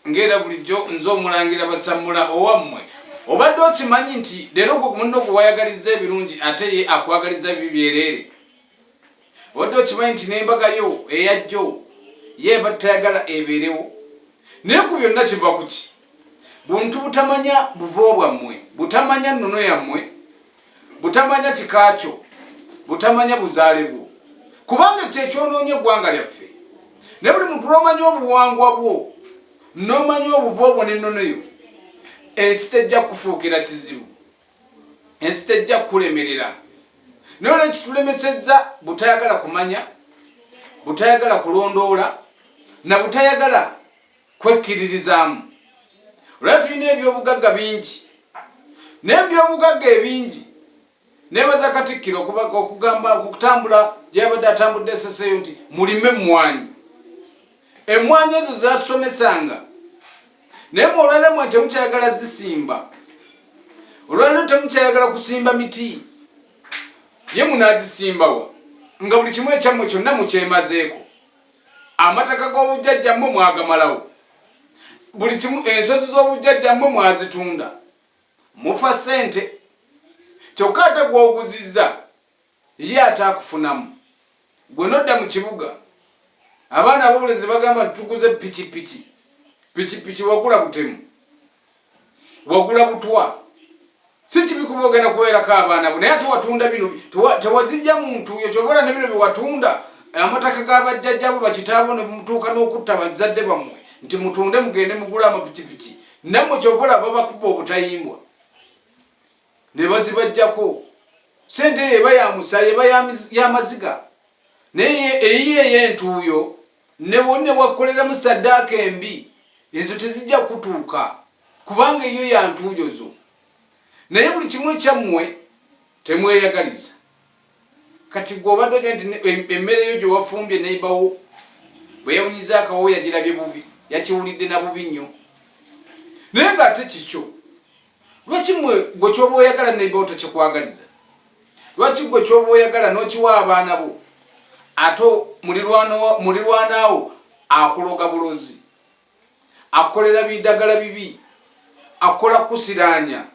ng'era bulijjo nze omulangira basammula owammwe obadde okimanyi nti leero gwe munno gwe wayagaliza ebirungi ate ye akwagaliza bibi byereere obadde okimanyi nti n'embaga yo eyajjo ye eba tayagala ebeerewo naye ku byonna kiva ku ki buntu butamanya buvo bwammwe butamanya nnono yammwe butamanya kika kyo butamanya buzaale bwo kubanga ekyo ekyonoonye eggwanga lyaffe naye buli muntu lwomanya obuwangwa bwo nomanya obuva obwo nennono yo ensi tejja kukufuukira kizibu ensi tejja kukulemerera naye olwekitulemesezza butayagala kumanya butayagala kulondoola na butayagala kwekkiririzaamu. Olaba tulina ebyobugagga bingi naye mu byobugagga ebingi nebaza Katikkiro okugamba okutambula gye yabadde atambudde eseseeyo nti mulime emmwanyi. Emmwanyi ezo zasomesanga naye mu olwaliro mwe temukyayagala zisimba, olwaliro temukyayagala kusimba miti ye munaagisimbawa nga buli kimu ekyammwe kyonna mukyemazeeko. amataka g'obujjajja mmwe mwagamalawo buli kimu ensozi z'obujjajja mmwe mwazitunda mufa ssente kyokka ate gw'oguzizza ye ate akufunamu gwe nodda mu kibuga abaana abobulezi bagamba tuguze pikipiki pikipiki wagula butemu wagula butwa si kibi kuba ogenda kubeerako abaana bo naye ate watunda bino tewazijja muntu yo kyobola ne bino byewatunda amataka g'abajjajjabo bakitaabo ne mutuuka n'okutta bazadde bammwe nti mutunde mugende mugula amapikipiki nammwe kyova olaba bakuba obutayimbwa ne bazibajjako sente eyo eba ya musaayi eba ya maziga naye eyiyo ey'entuuyo ne bonna bwakkoleramu saddaaka embi ezo tezijja kutuuka kubanga eyo ya ntuuyo zo naye buli kimu ekyammwe temweyagaliza kati gwe obadde oja nti emmere yo gye wafumbye neibawo bwe yawunyiza akawo yagirabye bubi yakiwulidde na bubi nnyo naye ng'ate kikyo Lwaki mwe gwe kyoba oyagala neiba otokikwagaliza? Lwaki gwe kyoba oyagala nokiwa abaana bo ate mulirwanaawo akuloga bulozi, akukolera bidagala bibi, akukola kusiraanya,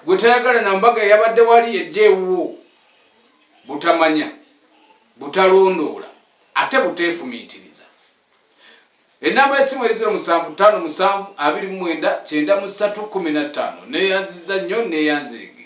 gwe tayagala na mbaga yabadde wali ejja ewuwo? Butamanya, butalondoola ate buteefumiitiriza. Ennamba y'essimu eri ziro musanvu ttaano musanvu abiri mu mwenda kyenda mu ssatu kkumi na ttaano. Neeyanzizza nnyo nneeyanzeege.